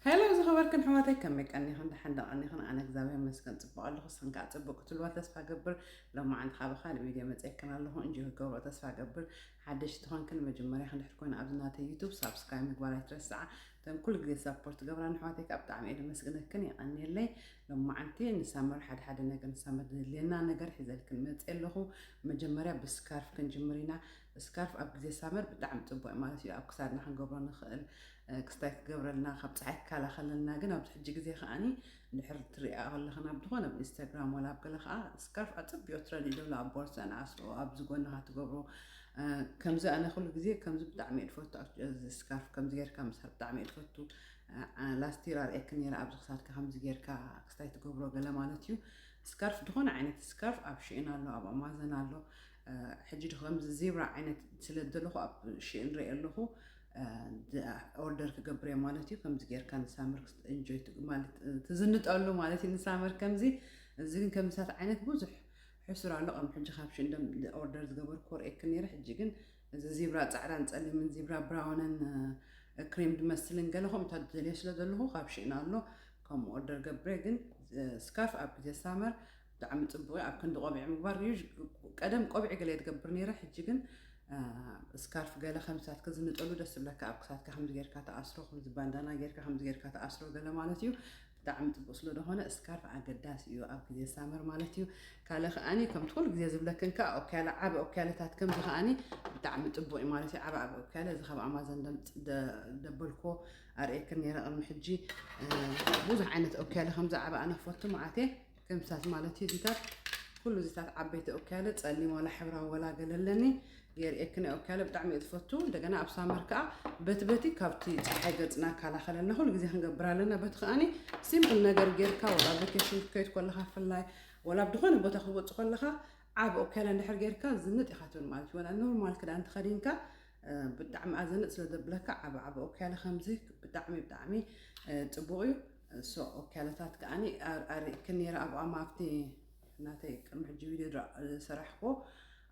ሄሎ ዝኸበርክን ኣሕዋተይ ከመይ ቀኒኽን ደሓን ዶ ቀኒኽን ኣነ እግዚኣብሔር ይመስገን ጽቡቕ ኣለኹ ንስኽን ከዓ ጽቡቕ ክትብልዋ ተስፋ እገብር ሎማዓንቲ ከዓ ብኻልእ ቪድዮ መጺኤክን ኣለኹ እንጆ ክትገብርኦ ተስፋ እገብር ሓደሽቲ ዝኾንክን መጀመርያ ክንድሕር ኮይኑ ኣብዚ ናተይ ዩቱብ ሳብስክራይብ ምግባር ኣይትረስዓ እተን ኩሉ ግዜ ሳፖርት ትገብራ ንኣሕዋተይ ከዓ ብጣዕሚ እየ ደመስግነክን የቐንየለይ ሎማዓንቲ ንሳመር ሓደ ሓደ ነገር ንሳመር ድልየና ነገር ሒዘልክን መጽእ ኣለኹ መጀመርያ ብስካርፍ ክንጅምር ኢና ስካርፍ ኣብ ግዜ ሳመር ብጣዕሚ ጽቡቕ ማለት እዩ ኣብ ክሳድና ክንገብሮ ንኽእል ክስታይ ክገብረልና ካብ ጸሓይ ክካላኸለልና ግን ኣብዚ ሕጂ ግዜ ከኣ እንድሕር ትርእያ ከለኽን ኣብ ዝኾነ ኣብ ኢንስታግራም ወላ ኣብ ገለ ከኣ ስካርፍ ኣጸቢኦ ትረኒ ዶሎ ኣብ ቦርሳ ንኣስሮ ኣብዚ ጎንኻ ትገብሮ ከምዚ ኣነ ኩሉ ግዜ ከምዚ ብጣዕሚ እድፈቱ ስካርፍ ከምዚ ጌርካ ምስሓብ ብጣዕሚ እድፈቱ ላስቲር ኣርእየክ ነይረ ኣብዚ ክሳድካ ከምዚ ጌርካ ክስታይ ትገብሮ ገለ ማለት እዩ ስካርፍ ዝኾነ ዓይነት ስካርፍ ኣብ ሽእን ኣሎ ኣብ ኣማዘን ኣሎ ሕጂ ዶ ከምዚ ዜብራ ዓይነት ስለ ዘለኹ ኣብ ሽእን ርኢ ኣለኹ ኦርደር ክገብር እየ ማለት እዩ ከምዚ ጌርካ ንሳመር እንጆይ ማለት ትዝንጠሉ ማለት እዩ ንሳመር ከምዚ እዚ ግን ከምሳት ዓይነት ብዙሕ ሕሱር ኣሎ ከም ሕጂ ካብ ሽንደም ኦርደር ዝገበር ኮርኤክ ነይረ ሕጂ ግን እዚ ዚብራ ፃዕዳን ፀሊምን ዚብራ ብራውንን ክሬም ድመስልን ገለ ከምኡታት ዝደልዮ ስለ ዘለኹ ካብ ሽእና ኣሎ ከምኡ ኦርደር ገብረ ግን ስካርፍ ኣብ ግዜ ሳመር ብጣዕሚ ጽቡቅ እዩ ኣብ ክንዲ ቆቢዕ ምግባር እዩ ቀደም ቆቢዕ ገለ ትገብር ነይረ ሕጂ ግን ስካርፍ ገለ ከም ሳትክ ዝንጠሉ ደስ ዝብለካ ኣብ ክሳትካ ከምዚ ጌርካ ተኣስሮ ከምዚ ባንዳና ጌርካ ከምዚ ጌርካ ተኣስሮ ገለ ማለት እዩ ብጣዕሚ ፅቡቅ ስለዝኾነ እስካርፍ ኣገዳሲ እዩ ኣብ ግዜ ሳመር ማለት እዩ ካለ ከዓኒ ከምቲ ኩሉ ግዜ ዝብለክን ከዓ ኦክያለ ዓበ ኦክያለታት ከምዚ ከዓኒ ብጣዕሚ ፅቡቅ እዩ ማለት እዩ ዓበ ዓበ ኦክያለ እዚ ካብ ኣማዘን ደበልኮ ኣርእየክን ነይረ ቅድሚ ሕጂ ብዙሕ ዓይነት ኦክያለ ከምዚ ዓበ ኣነ ክፈቱ መዓት እየ ከምሳት ማለት እዩ እዚታት ኩሉ እዚታት ዓበይቲ ኦካያለ ፀሊም ዋላ ሕብራዊ ዋላ ገለ ኣለኒ የርእየኪ ናይ ኦካያለ ብጣዕሚ እየ ትፈቱ እንደገና ኣብ ሳመር ከዓ በቲ በቲ ካብቲ ፀሓይ ገፅና ካላኸለልና ኩሉ ግዜ ክንገብር ኣለና በቲ ከዓኒ ሲምፕል ነገር ጌርካ ወላ ቫኬሽን ክትከይድ ከለካ ፍላይ ወላ ኣብ ዝኾነ ቦታ ክወፅ ከለካ ዓብ ኦካያለ እንድሕር ጌርካ ዝንጥ ኢካ ትብል ማለት እዩ ወላ ኖርማል ክዳን ተኸዲንካ ብጣዕሚ ኣዘንጥ ስለ ዘብለካ ዓብ ዓብ ኦክያለ ከምዚ ብጣዕሚ ብጣዕሚ ጽቡቅ እዩ ሶ ኦክያለታት ከኣኒ ኣርእክ ነይረ ኣብኡ ኣማ ኣብቲ ናተይ ቅድሚ ሕጂ ቪድዮ ዝሰራሕክዎ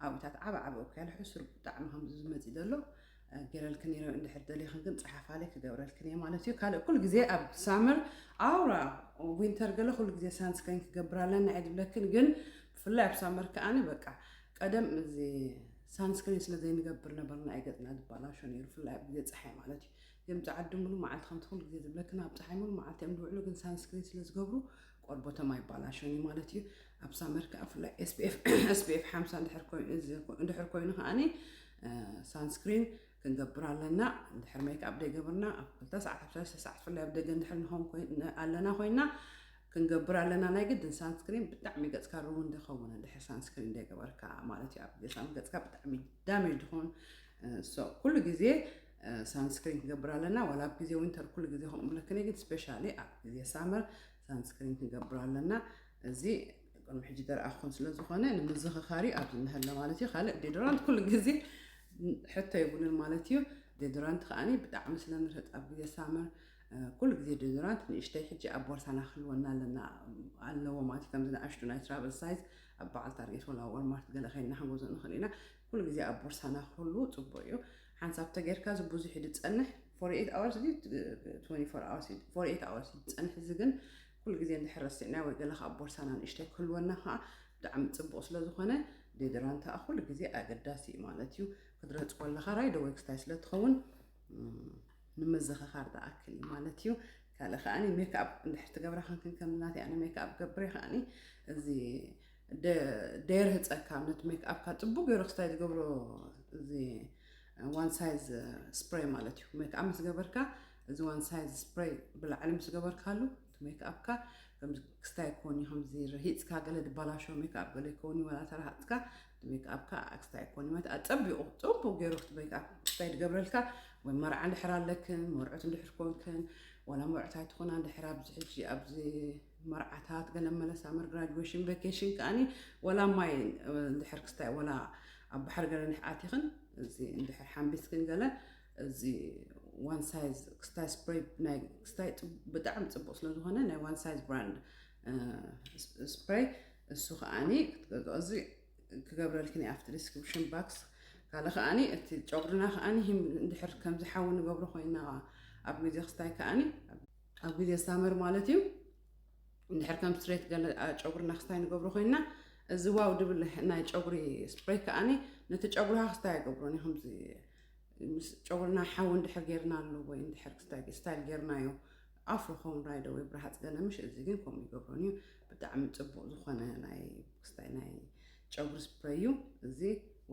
ኣብኡታት ዓብ ዓብ ኦክያለ ሕሱር ብጣዕሚ ከምዚ ዝመጽእ ዘሎ ገረልክ ነይረ እንድሕር ደሊኽን ግን ጸሓፋለይ ክገብረልክን እየ ማለት እዩ ካልእ ኩሉ ግዜ ኣብ ሳመር ኣውራ ዊንተር ገለ ኩሉ ግዜ ሳንስክሪን ክገብር ኣለና እየ ዝብለክን ግን ብፍላይ ኣብ ሳመር ከኣኒ በቃ ቀደም እዚ ሳንስክሪን ስለ ዘይንገብር ነበርና እዩ ገጽና ዝበላሾ ነይሩ ብፍላይ ኣብ ግዜ ፀሓይ ማለት እዩ እዚኦም ፀዓዱ ምሉእ መዓልቲ ከምቲ ኩሉ ግዜ ዝብለክን ኣብ ፀሓይ ምሉእ መዓልቲ እዮም ዝውዕሉ ግን ሳንስክሪን ስለ ዝገብሩ ቆርቦቶም ኣይባላሾን እዩ ማለት እዩ ኣብ ሳመር ከዓ ብፍላይ ኤስፒኤፍ ሓምሳ እንድሕር ኮይኑ ከዓኒ ሳንስክሪን ክንገብር ኣለና። እንድሕር ሜክኣፕ ዘይገበርና ኣብ ክልተ ሰዓት ኣብ ሰለስተ ሰዓት ብፍላይ ኣብ ደገ እንድሕር ንኸውን ኮይን- ኣለና ኮይና ክንገብር ኣለና ናይ ግድን ሳንስክሪን ብጣዕሚ ገጽካ ሩውን ዝኸውን እንድሕር ሳንስክሪን ዘይገበርካ ማለት እዩ ኣብ ገሳም ገጽካ ብጣዕሚ ዳሜጅ ዝኸውን ሶ ኩሉ ግዜ ሳንስክሪን ክንገብር ኣለና ዋላ ኣብ ግዜ ዊንተር ኩሉ ግዜ ከምኡ ብለክኒ ግን ስፔሻሊ ኣብ ግዜ ሳመር ሳንስክሪን ክንገብር ኣለና እዚ ቅድሚ ሕጂ ደርኣኹን ስለ ዝኾነ ንምዝኽኻሪ ኣብዚ እንሀለ ማለት እዩ ካልእ ዴዶራንት ኩሉ ግዜ ሕቶ የብሉን ማለት እዩ ዴዶራንት ከዓኒ ብጣዕሚ ስለ ንርህፅ ኣብ ግዜ ሳመር ኩሉ ግዜ ዴዶራንት ንእሽተይ ሕጂ ኣብ ቦርሳና ክህልወና ኣለና ኣለዎ ማለት እዩ ከምዚ ንኣሽቱ ናይ ትራቨል ሳይዝ ኣብ በዓል ታርጌት ወላ ወልማርት ገለ ከይና ክንገዞ ንኽእል ኢና ኩሉ ግዜ ኣብ ቦርሳና ክህሉ ፅቡቅ እዩ ሓንሳብ ተጌርካ እዚ ብዙሕ ድፀንሕ 48 ኣወርስ 24 ኣወርስ ድፀንሕ እዚ ግን ኩሉ ግዜ እንድሕር ረሲዕናዮ ወይ ገለ ከኣ ኣብ ቦርሳና ንእሽተይ ክህልወና ከኣ ብጣዕሚ ጽቡቅ ስለ ዝኮነ ዴድራንት ከኣ ኩሉ ግዜ ኣገዳሲ እዩ ማለት እዩ ክትረጽ ኮለካ ራይዶ ወይ ክስታይ ስለ ትኸውን ንምዝኽኻር ዝኣክል እዩ ማለት እዩ ካልእ ከኣኒ ሜክኣፕ እንድሕር ትገብራ ክንክን ከም ናተይ ኣነ ሜክኣፕ ገብረ ከኣኒ እዚ ደየር ህፀካ ነቲ ሜክኣፕካ ፅቡቅ ገይሩ ክስታይ ዝገብሮ እዚ ዋን ሳይዝ ስፕሬይ ማለት እዩ ሜክኣፕ ምስ ገበርካ እዚ ዋን ሳይዝ ስፕረይ ብላዕሊ ምስ ገበርካሉ እቲ ሜክኣፕካ ከምዚ ክስታይ ኮን እዩ ከምዚ ረሂጽካ ገለ ድባላሾ ሜክኣፕ ገለ ይከውን እዩ ወላ ተረሃጽካ እቲ ሜክኣፕካ ኣክስታይ ኮን እዩ ማለት ኣጸቢቑ ጽቡቕ ገይሩ እቲ ሜክኣፕ ክስታይ ድገብረልካ ወይ መርዓ እንድሕር ኣለክን መርዑት እንድሕር ኮንክን ወላ መርዑት ኣይትኾና እንድሕር ኣብዚ ሕጂ ኣብዚ መርዓታት ገለ መለ ሳመር ግራጁዌሽን ቫኬሽን ከዓኒ ወላ ማይ እንድሕር ክስታይ ወላ ኣብ ባሕሪ ገለ እንድሕር ኣቲኽን እዚ እንድሕር ሓምቢስክን ገለ እዚ ዋን ሳይዝ ክስታይ ስፕሬይ ናይ ክስታይ ብጣዕሚ ፅቡቅ ስለዝኾነ ናይ ዋን ሳይዝ ብራንድ ስፕሬይ እሱ ከዓኒ ክትገዝኦ እዚ ክገብረልክን ኣብቲ ዲስክሪፕሽን ባክስ ካልእ ከዓኒ እቲ ጨጉርና ከዓኒ ሂም እንድሕር ከምዚ ሓዊ ንገብሮ ኮይና ኣብ ግዜ ክስታይ ከዓኒ ኣብ ግዜ ሳመር ማለት እዩ እንድሕር ከም ስትሬት ገለ ጨጉርና ክስታይ ንገብሮ ኮይና እዚ ዋው ድብል ናይ ጨጉሪ ስፕሬይ ከዓኒ ነቲ ጨጉርካ ክስታይ ኣይገብሮን እዩ ከምዚ ምስ ጨጉርና ሓዊ እንድሕር ጌርናሉ ወይ እንድሕር ስታይል ጌርናዮ ኣፍሮ ኸውን ራይደ ወይ ብርሃፅ ገለ ምሽ እዚ ግን ከምኡ ይገብሮን እዩ ብጣዕሚ ፅቡቕ ዝኾነ ናይ ስታይ ናይ ጨጉሪ ስፕረይ እዩ እዚ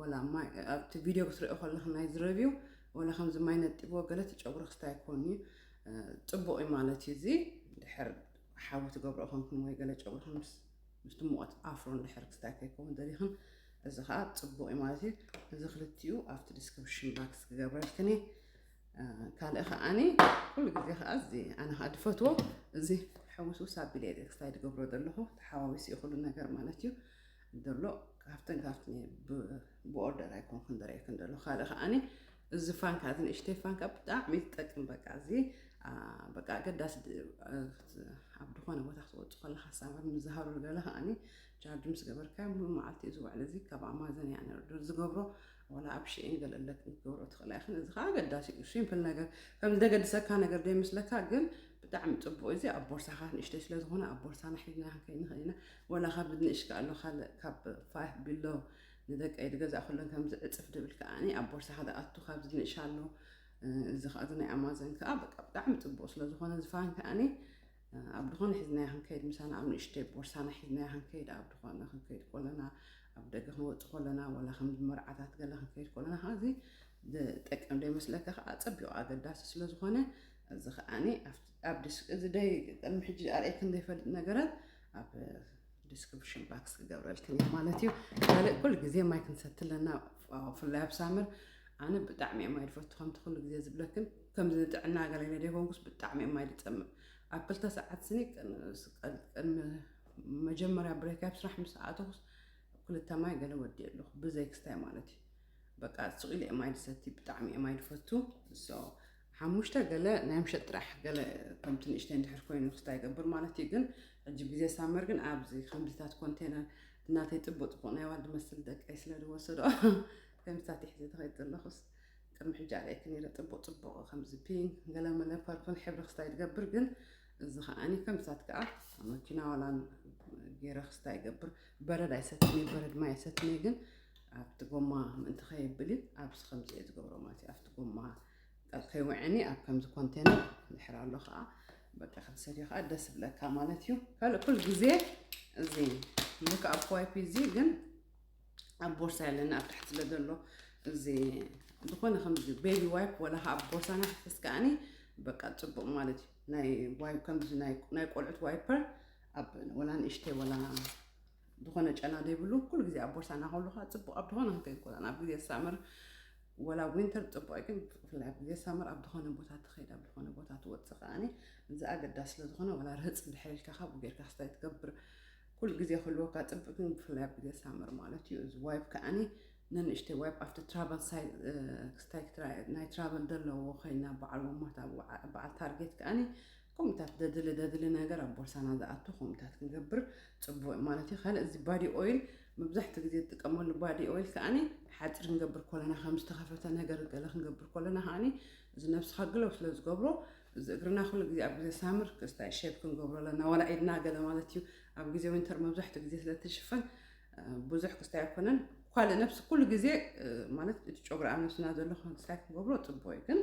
ወላ ማይ ኣብቲ ቪድዮ ክትሪኦ ከለክ ናይ ዝረብዩ ወላ ከምዚ ማይ ነጢብዎ ገለ እቲ ጨጉሪ ክስታይ ኮን እዩ ፅቡቕ እዩ ማለት እዩ እዚ ድሕር ሓዊ ትገብሮ ኮንኩም ወይ ገለ ጨጉርኩም ምስ ምስቲ ሙቐት ኣፍሮ እንድሕር ክስታይ ከይከውን ደሊኽን እዚ ከዓ ፅቡቕ እዩ ማለት እዩ እዚ ክልቲኡ ኣብቲ ዲስክሪፕሽን ባክስ ክገብረልክን እየ ካልእ ከዓኒ ኩሉ ግዜ ከዓ እዚ ኣነ ከዓ ድፈትዎ እዚ ሕውስውስ ኣቢለ እየ ክስታይ ድገብሮ ዘለኹ ተሓዋዊሱ እዩ ኩሉ ነገር ማለት እዩ ዘሎ ካብተን ካብቲ ብኦርደር ኣይኮንኩን ደረየክን ዘሎ ካልእ ከዓኒ እዚ ፋንካ እዚ ንእሽተይ ፋንካ ብጣዕሚ ትጠቅም በቃ እዚ በቃ ኣገዳሲ ኣብ ዝኾነ ቦታ ክትወፁ ከለካ ሳበር ምዝሃሩ ገለ ከዓኒ ቻርጅ ምስ ገበርካ ሙሉእ መዓልቲ እዩ ዝውዕል እዚ ካብ ኣማዘን እያ ነርዶ ዝገብሮ ወላ ኣብ ሽኤን ገለለ ክትገብሮ ትኽእላ ይኽን እዚ ከዓ ኣገዳሲ እዩ ሲምፕል ነገር ከም ዘገድሰካ ነገር ዘይምስለካ ግን ብጣዕሚ ፅቡቅ እዚ ኣብ ቦርሳካ ንእሽተይ ስለዝኾነ ኣብ ቦርሳና ሒዝና ክንከይድ ንኽእል ኢና ወላ ካብ ንእሽ ከኣሎ ካልእ ካብ ፋይፍ ቢሎ ንደቀይ ዝገዛእኩለን ከምዚ ዕጽፍ ድብል ከኣ ኣብ ቦርሳኻ ድኣቱ ካብዚ ንእሻሉ እዚ ከኣ እዚ ናይ ኣማዘን ከኣ በቃ ብጣዕሚ ጽቡቅ ስለ ዝኾነ እዚ ፋን ከኣ ኣብ ድኾነ ሒዝናያ ክንከይድ ምሳና ኣብ ንእሽተይ ቦርሳና ሒዝናያ ክንከይድ ኣብ ድኾነ ክንከይድ ኮለና ኣብ ደገ ክንወጽእ ኮለና ወላ ከም መርዓታት ገለ ክንከይድ ኮለና ከኣ እዚ ዝጠቅም ዶ ይመስለካ ከኣ ጸቢቁ ኣገዳሲ ስለ ዝኾነ እዚ ከኣ ኣብ ዲስክ እዚ ደይ ቅድሚ ሕጂ ኣርእየክን ዘይፈልጥ ነገራት ኣብ ዲስክሪፕሽን ባክስ ክገብረልክን እየ ማለት እዩ ካልእ ኩሉ ግዜ ማይ ክንሰቲ ኣለና ብፍላይ ኣብ ሳምር ኣነ ብጣዕሚ እየ ማይ ድፈቱ ከምቲ ኩሉ ግዜ ዝብለክን ከምዚ ንጥዕና ገለነ ደይኮንኩስ ብጣዕሚ እየ ማይ ድፀምእ ኣብ ክልተ ሰዓት ስኒ ቅድሚ መጀመርያ ብሬክ ኣብ ስራሕ ምስ ኣተኹስ ክልተ ማይ ገለ ወዲ ኣለኹ ብዘይ ክስታይ ማለት እዩ በቃ ስቕ ኢለ እየ ማይ ድሰቲ ብጣዕሚ እየ ማይ ድፈቱ ሓሙሽተ ገለ ናይ ምሸት ጥራሕ ገለ ከምቲ ንእሽተይ እንድሕር ኮይኑ ክስታይ ይገብር ማለት እዩ ግን ሕጂ ግዜ ሳመር ግን ኣብዚ ከምዚታት ኮንቴነር እናተይ ፅቡቅ ፅቡቅ ናይ ዋል ድመስል ደቀይ ስለ ዝወሰዶ ከምዚታት ይሕዘ ተኸይድ ዘለኹስ ቅድሚ ሕጂ ኣለይክ ነይረ ፅቡቅ ፅቡቅ ከምዚ ፒንክ ገለመለ ፐርፕል ሕብሪ ክስታይ ትገብር ግን እዚ ከዓኒ ከምዚታት ከዓ መኪና ዋላ ገይረ ክስታይ ይገብር በረድ ኣይሰትኒ በረድ ማይ ኣይሰትኒ ግን ኣብቲ ጎማ ምእንቲ ከየብል እዩ ኣብዚ ከምዚ እየ ዝገብሮ ማለት እዩ ኣብቲ ጎማ ከይውዕኒ ኣብ ከምዚ ኮንቴነር ድሕር ኣሎ ከዓ በቃ ክንሰድዮ ከዓ ደስ ብለካ ማለት እዩ ካልእ ኩል ግዜ እዚ ልክ ኣብ ዋይፒ እዚ ግን ኣብ ቦርሳ የለኒ ኣብ ታሕቲ ስለዘሎ እዚ ዝኾነ ከምዚ ቤቢ ዋይፕ ወላ ከዓ ኣብ ቦርሳና ሕፍስ ከዓኒ በቃ ፅቡቅ ማለት እዩ ናይ ዋይፕ ከምዚ ናይ ቆልዑት ዋይፐር ኣብ ወላ ንእሽተይ ወላ ዝኾነ ጨና ዘይብሉ ኩሉ ግዜ ኣብ ቦርሳ እናሃሉኻ ጽቡቕ ኣብ ዝኾነ ክትከይድ ኮላ ኣብ ግዜ ሳመር ወላ ዊንተር ጽቡቕ ግን ብፍላይ ኣብ ግዜ ሳመር ኣብ ዝኾነ ቦታ ትኸይድ ኣብ ዝኾነ ቦታ ትወጽእ ከዓኒ እዚ ኣገዳሲ ስለ ዝኾነ ወላ ርህጽ ድሕር ኢልካ ካብኡ ጌርካ ክስታይ ትገብር ኩሉ ግዜ ክህልወካ ጽቡቅ ግን ብፍላይ ኣብ ግዜ ሳመር ማለት እዩ እዚ ዋይብ ከዓኒ ነንእሽተይ ዋይብ ኣብቲ ትራቨል ሳይ ክስታይ ናይ ትራቨል ዘለዎ ኮይና በዓል ወማት በዓል ታርጌት ከዓኒ ኮምታት ደድሊ ደድሊ ነገር ኣብ ቦርሳና ዝኣቱ ኮምታት ክንገብር ጽቡቅ እዩ ማለት እዩ ካልእ እዚ ባዲ ኦይል መብዛሕትኡ ግዜ ዝጥቀመሉ ባዲ ኦይል ከኣኒ ሓጺር ክንገብር ኮለና ከም ዝተኸፈተ ነገር ገለ ክንገብር ኮለና ከኣኒ እዚ ነብስኻ ግለው ስለ ዝገብሮ እዚ እግርና ኩሉ ግዜ ኣብ ግዜ ሳምር ክስታይ ሼፕ ክንገብሮ ኣለና ዋላ ኢድና ገለ ማለት እዩ ኣብ ግዜ ዊንተር መብዛሕትኡ ግዜ ስለ ትሽፈን ብዙሕ ክስታይ ኣይኮነን ካልእ ነብሲ ኩሉ ግዜ ማለት እቲ ጨጉሪ ኣብ ነብስና ዘሎ ክስታይ ክንገብሮ ጽቡቅ እዩ ግን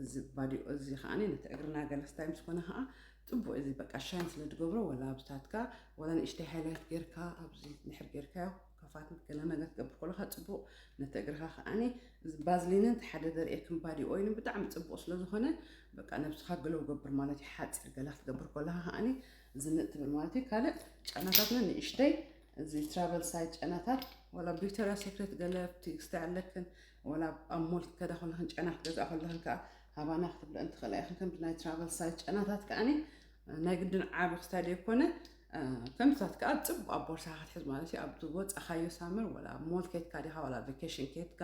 እዚ ባዲኦ እዚ ከኣ ነቲ እግርና ገለ ስታይ ምስ ኮነ ከኣ ጽቡቅ እዚ በቃ ሻይን ስለ ዝገብሮ ወላ ኣብታትካ ወላ ንእሽተይ ሃይላይት ጌርካ ኣብዚ ንሕር ጌርካዮ ከፋት ገለ ነገር ትገብር ከለካ ጽቡቅ ነቲ እግርካ ከኣኒ እዚ ባዝሊንን እቲ ሓደ ዘርእየክም ባዲ ኦይልን ብጣዕሚ ጽቡቅ ስለ ዝኮነ በቃ ነብስካ ግለው ገብር ማለት እዩ ሓጺር ገለ ክትገብር ከለካ ከኣኒ ዝንጥ ትብል ማለት እዩ ካልእ ጨናታትና ንእሽተይ እዚ ትራቨል ሳይት ጨናታት ወላ ቪክቶሪያ ሴክሬት ገለ ቲክስቲ ኣለክን ወላ ኣብ ሞል ክትከዳ ከለኽን ጨና ክትገዝኣ ከለኽን ከኣ ሃባና ክትብለአን ትኽእላ ኢኽን። ከምቲ ናይ ትራቨል ሳይዝ ጨናታት ከኣኒ ናይ ግድን ዓቢ ክታይ ደይኮነ ከምታት ከኣ ጽቡቅ ኣብ ቦርሳ ክትሕዝ ማለት እዩ ኣብ ወጻኻዮ ሳምር ወላ ኣብ ሞል ኬትካ ዲኻ ወላ ኣብ ቫኬሽን ኬትካ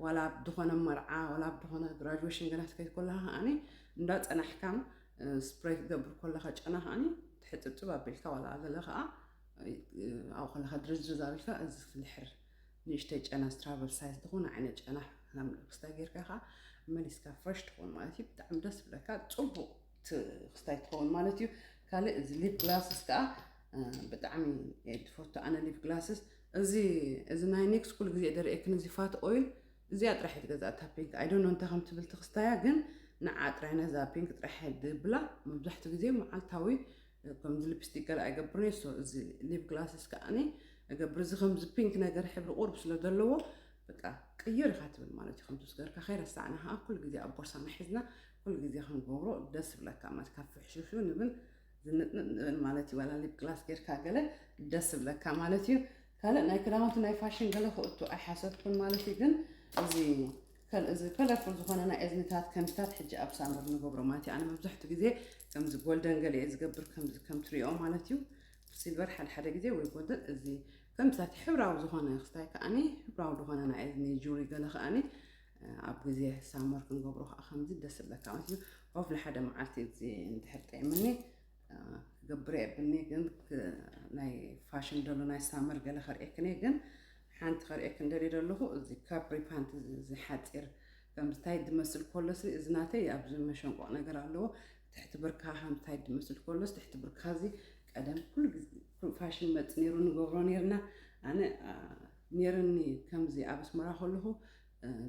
ወላ ኣብ ዝኾነ መርዓ ወላ ኣብ ዝኾነ ግራጁዌሽን ገና ትከይድ ኮለኻ ከዓኒ እንዳ ጸናሕካን ስፕሬይ ክትገብር ኮለኻ ጨና ከዓኒ ትሕጽብጽብ ኣቢልካ ወላ ገለ ከኣ ኣብኡ ከለኻ ድርዝርዝ ኣቢልካ እዚ ክትልሕር ንእሽተይ ጨና ስትራቨል ሳይዝ ዝኾነ ዓይነት ጨና ከም ክስታይ ጌርካ ከዓ መሊስካ ፍረሽ ትኸውን ማለት እዩ ብጣዕሚ ደስ ብለካ ፅቡቅ ክስታይ ትኸውን ማለት እዩ ካልእ እዚ ሊፕ ግላስስ ከዓ ብጣዕሚ ትፈቱ ኣነ ሊፕ ግላስስ እዚ እዚ ናይ ኒክስ ኩሉ ግዜ ደርእየክን እዚ ፋት ኦይል እዚኣ ጥራሕ እዩ ትገዛእ እታ ፒንክ ኣይዶኖ እንታይ ከም ትብል ትክስታያ ግን ንዓ ጥራይ ነዛ ፒንክ ጥራሕ ድብላ መብዛሕትኡ ግዜ መዓልታዊ ከምዚ ልፕስቲክ ገለ ኣይገብርን እየ ሶ እዚ ሊፕ ግላስስ ከዓኒ እገብር እዚ ከምዚ ፒንክ ነገር ሕብሪ ቁርብ ስለ ዘለዎ በቃ ቅይር ኢኻ ትብል ማለት እዩ ከምቲ ስገርካ ከይረሳዕና ከዓ ኩሉ ግዜ ኣብ ቦርሳና ሒዝና ኩሉ ግዜ ክንገብሮ ደስ ይብለካ ማለት ካብ ፍሕሹሹ ንብል ዝንጥንጥ ንብል ማለት እዩ ዋላ ሊፕ ግላስ ጌርካ ገለ ደስ ይብለካ ማለት እዩ ካልእ ናይ ክዳውንቲ ናይ ፋሽን ገለ ክእቱ ኣይሓሰብኩን ማለት እዩ ግን እዚ ከም እዚ ከለርፉል ዝኾነ ናይ እዝኒታት ከንድታት ሕጂ ኣብ ሳመር ንገብሮ ማለት እዩ ኣነ መብዛሕቱ ግዜ ከምዚ ጎልደን ገለ እየ ዝገብር ከምዚ ከም ትሪኦ ማለት እዩ ሲልቨር ሓደ ሓደ ግዜ ወይ ጎልደን እዚ ከምዚታት ሕብራዊ ዝኾነ ክስታይ ከዓኒ ሕብራዊ ዝኾነ ናይ እዝኒ ጁሪ ገለ ከዓኒ ኣብ ግዜ ሳመር ክንገብሮ ከዓ ከምዚ ደስ ዝብለካ ማለት እዩ ኦፍ ንሓደ መዓልቲ እዚ እንድሕር ጠይምኒ ክገብረ የብኒ ግን ናይ ፋሽን ደሎ ናይ ሳመር ገለ ከርእየክን ግን ሓንቲ ከርእየክን ደልየ ደለኹ እዚ ካብ ሪፓንት እዚ ሓጺር ከምዝታይ ድመስል ኮሎስኒ እዚ ናተይ ኣብዚ መሸንቆቕ ነገር ኣለዎ ትሕቲ ብርካ ከምዝታይ ድመስል ኮሎስ ትሕቲ ብርካ እዚ ቀደም ኩሉ ግዜ ፋሽን መጽ ነይሩ ንገብሮ ነርና ኣነ ነርኒ ከምዚ ኣብ ኣስመራ ከለኹ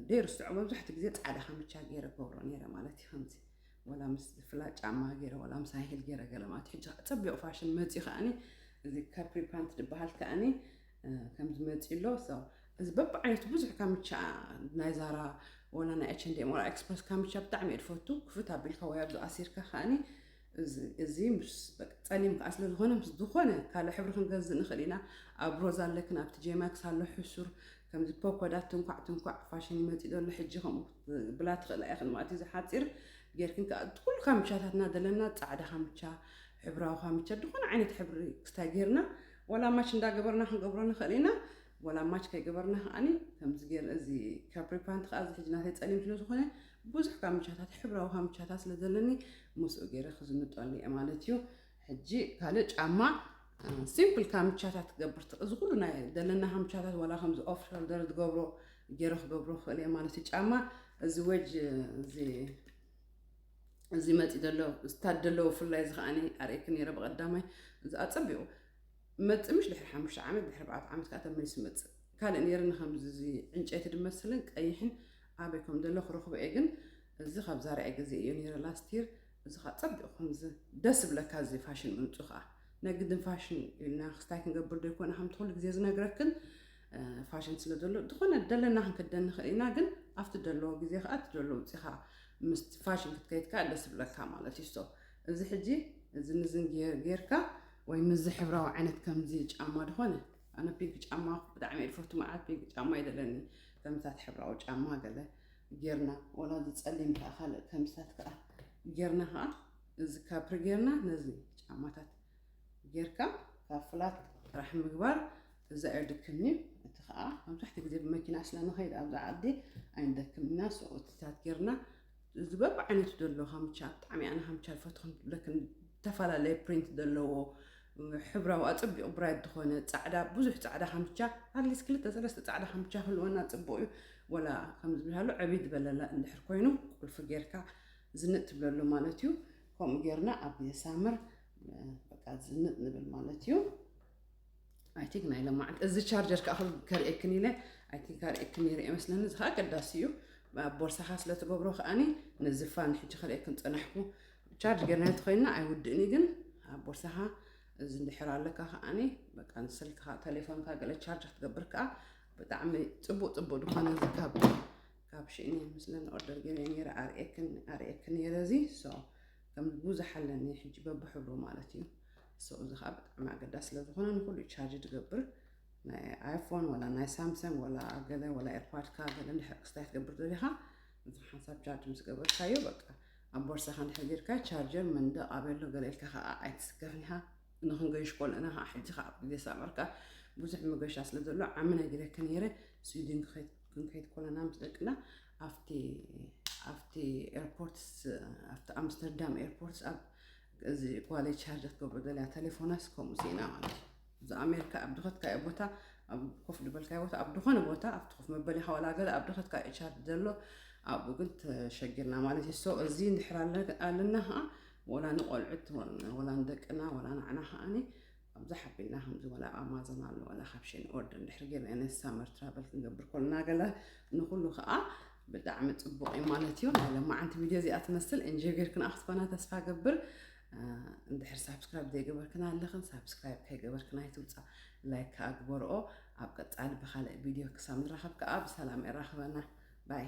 ደይርስዖ መብዛሕትኡ ግዜ ጻዕዳ ከምቻ ገይረ ገብሮ ነይረ ማለት እዩ ከምዚ ወላ ምስ ፍላ ጫማ ገይረ ወላ ምስ ሃይሂል ገይረ ገለ ማለት ሕጂ ጸቢቑ ፋሽን መጽዩ ከኣኒ እዚ ካፕሪ ፓንት ድበሃል ከኣኒ ከምዚ መፂኡ ኣሎ እዚ በብዓይነቱ ብዙሕ ካምቻ ናይ ዛራ ወላ ናይ ኤች ኤንድ ኤም ወላ ኤክስፕረስ ካምቻ ብጣዕሚ እየ ዝፈቱ ክፍት ኣቢልካ ወይ ኣብዚ ኣሲርካ ከዓኒ እዚ ምስ ፀሊም ከዓ ስለ ዝኾነ ምስ ዝኾነ ካልእ ሕብሪ ክንገዝእ ንኽእል ኢና ኣብ ሮዝ ኣለክን ኣብቲ ጄማክስ ኣሎ ሕሱር ከምዚ ፖኮዳ ትንኳዕ ትንኳዕ ፋሽን ይመፅእ ዘሎ ሕጂ ከምኡ ብላ ትኽእላ ኢኽን ማለት እዩ ዝሓፂር ጌርክን ከዓ ኩሉ ካምቻታትና ዘለና ፃዕዳ ካምቻ ሕብራዊ ካምቻ ዝኾነ ዓይነት ሕብሪ ክስታይ ጌርና ወላ ማች እንዳገበርና ክንገብሮ ንክእል ኢና ወላ ማች ከይገበርና ከኣ ከምዚ ገይር እዚ ካፕሪ ፓንት ከኣ እዚ ሕጂ ናተይ ጸሊም ስለ ዝኾነ ብዙሕ ካምቻታት ሕብራዊ ካምቻታት ስለ ዘለኒ ምስኡ ገይረ ክዝንጠሉ እየ ማለት እዩ ሕጂ ካልእ ጫማ ሲምፕል ካምቻታት ትገብርቲ እዚ ኩሉ ናይ ዘለና ካምቻታት ዋላ ከምዚ ኦፍ ሾልደር ዝገብሮ ገይረ ክገብሮ ክእል እየ ማለት እዩ ጫማ እዚ ወጅ እዚ እዚ መፂ ዘሎ ዝታደሎ ፍላይ እዚ ከዓኒ ኣርእኪ ነይረ ብቀዳማይ እዚ ኣፀቢቑ መፅእ ምሽ ድሕሪ ሓሙሽተ ዓመት ድሕሪ ኣርባዕተ ዓመት ከዓ ተመሊሱ መፅእ ካልእ ነይርኒ ከምዚ እዚ ዕንጨይቲ ድመስልን ቀይሕን ኣበይ ከም ዘሎ ክረኽቦ እየ ግን እዚ ካብ ዛርያ ግዜ እዩ ነይረ ላስቲር እዚ ከዓ ፀቢቑ ከምዚ ደስ ብለካ እዚ ፋሽን ምምፁ ከዓ ናይ ግድን ፋሽን ኢልና ክስታይ ክንገብር ዶ ይኮነ ከምቲ ኩሉ ግዜ ዝነግረክን ፋሽን ስለ ዘሎ ዝኾነ ደለና ክንክደን ንኽእል ኢና ግን ኣብቲ ደለዎ ግዜ ከዓ እቲ ደሎ ውፅኻ ምስ ፋሽን ክትከይድ ከዓ ደስ ብለካ ማለት እዩ ሶ እዚ ሕጂ እዚ ምዝን ጌርካ ወይ ምዚ ሕብራዊ ዓይነት ከምዚ ጫማ ድኾነ ኣነ ፒንክ ጫማ ብጣዕሚ እየ ዝፈቱ መዓት ፒንክ ጫማ ይደለኒ ከምታት ሕብራዊ ጫማ ገለ ጌርና ወላ ዝፀሊም ከዓ ካልእ ከምታት ከዓ ጌርና ከዓ እዚ ካብሪ ጌርና ነዚ ጫማታት ጌርካ ካብ ፍላት ጥራሕ ምግባር እዛ የድክምኒ እቲ ከዓ መብዛሕትኡ ግዜ ብመኪና ስለንኸይድ ኣብዛ ዓዲ ኣይንደክም ኢና ሰኦትታት ጌርና እዚ በብዓይነቱ ዘሎ ሃምቻ ብጣዕሚ ኣነ ሃምቻ ይፈትኹን ብለክን ዝተፈላለየ ፕሪንት ዘለዎ ሕብራዊ ኣፀቢቑ ብራይት ዝኾነ ፃዕዳ ብዙሕ ፃዕዳ ሃምቻ ኣትሊስት ክልተ ሰለስተ ፃዕዳ ሃምቻ ክህልወና ፅቡቕ እዩ ወላ ከም ዝብልሃሉ ዕብይ ዝበለላ እንድሕር ኮይኑ ቁልፊ ጌርካ ዝንጥ ትብለሉ ማለት እዩ ከምኡ ጌርና ኣብ ሳምር በቃ ዝንጥ ንብል ማለት እዩ ኣይ ቲንክ ናይ ለማዓንቲ እዚ ቻርጀር ከዓ ከርእየክን ኢለ ኣይ ቲንክ ኣርእየክን ነይረ ይመስለኒ እዚ ከዓ ቀዳሲ እዩ ኣብ ቦርሳኻ ስለ ትገብሮ ከዓኒ ነዚ ፋን ሕጂ ከርእየክን ፀናሕኩ ቻርጅ ገርናዮ ተኮይና ኣይውድእን ግን ኣብ ቦርሳኻ እዚ እንድሕር ኣለካ ከዓኒ በቃ ንስልክኻ ቴሌፎንካ ገለ ቻርጅ ክትገብር ከዓ ብጣዕሚ ፅቡቅ ፅቡቅ ዝኾነ እዚ ካብ ካብ ሽእኒ ምስለን ኦርደር ገይረ ነይረ ኣርእየክን ኣርእየክን ነይረ እዚ ሶ ከም ቡዙሕ ኣለኒ ሕጂ በብሕብሩ ማለት እዩ so እዚ ከኣ ብጣዕሚ ኣገዳሲ ስለ ዝኮነ ንኩሉ እዩ ቻርጅ ዝገብር ናይ ኣይፎን ወላ ናይ ሳምሰንግ ወላ ገለ ወላ ኤርፓድካ ገለ እንድሕር ክስታይ ትገብር ደሊካ እዚ ሓንሳብ ቻርጅ ምስ ገበርካዮ በቃ ኣብ ቦርሳካ እንድሕር ጌርካ ቻርጀር መንደቅ ኣበሎ ገለ ኢልካ ከዓ ኣይትስከፍን ኢካ ንክንገይሽ ኮለና ከዓ ሕጂ ከዓ ኣብ ግዜ ሳመርካ ብዙሕ መገሻ ስለ ዘሎ ዓሚ ናይ ገለከ ነይረ ስዊድን ክንከይድ ኮለና ምስ ደቅና ኣብቲ ኣብቲ ኤርፖርትስ ኣብቲ ኣምስተርዳም ኤርፖርትስ ኣብ እዚ ጓለይ ቻርጅ ክትገብሮ ዘላ ቴሌፎናስ ከምኡ ሲኢና ማለት እዩ እዚ ኣሜሪካ ኣብ ድኸትካዮ ቦታ ኣብ ኮፍ ዝበልካዮ ቦታ ኣብ ዝኾነ ቦታ ኣብቲ ኮፍ መበሊኻ ዋላ ገለ ኣብ ድኸትካዮ ቻርጅ ዘሎ ኣብኡ ግን ተሸጊርና ማለት እዩ ሶ እዚ እንድሕር ኣለና ከዓ ወላ ንቆልዑት ወላ ንደቅና ወላ ንዓና ከዓኒ ኣብዚ ሓቢልና ከምዚ ወላ ኣብ ኣማዞን ኣሎ ወላ ካብ ሸን ኦርደር እንድሕር ጌርና ነዚ ሳመር ትራቨል ክንገብር ኮልና ገለ ንኹሉ ከዓ ብጣዕሚ ፅቡቕ እዩ ማለት እዩ ናይ ለማዓንቲ ቪድዮ እዚኣ ትመስል እንጆይ ጌርክና ክትኮና ተስፋ ገብር እንድሕር ሳብስክራይብ ዘይገበርክና ኣለኽን ሳብስክራይብ ከይገበርክና ይትውፃ ላይክ ከዓ ግበርኦ ኣብ ቀፃሊ ብካልእ ቪድዮ ክሳብ ንራኸብ ከዓ ብሰላም የራኽበና ባይ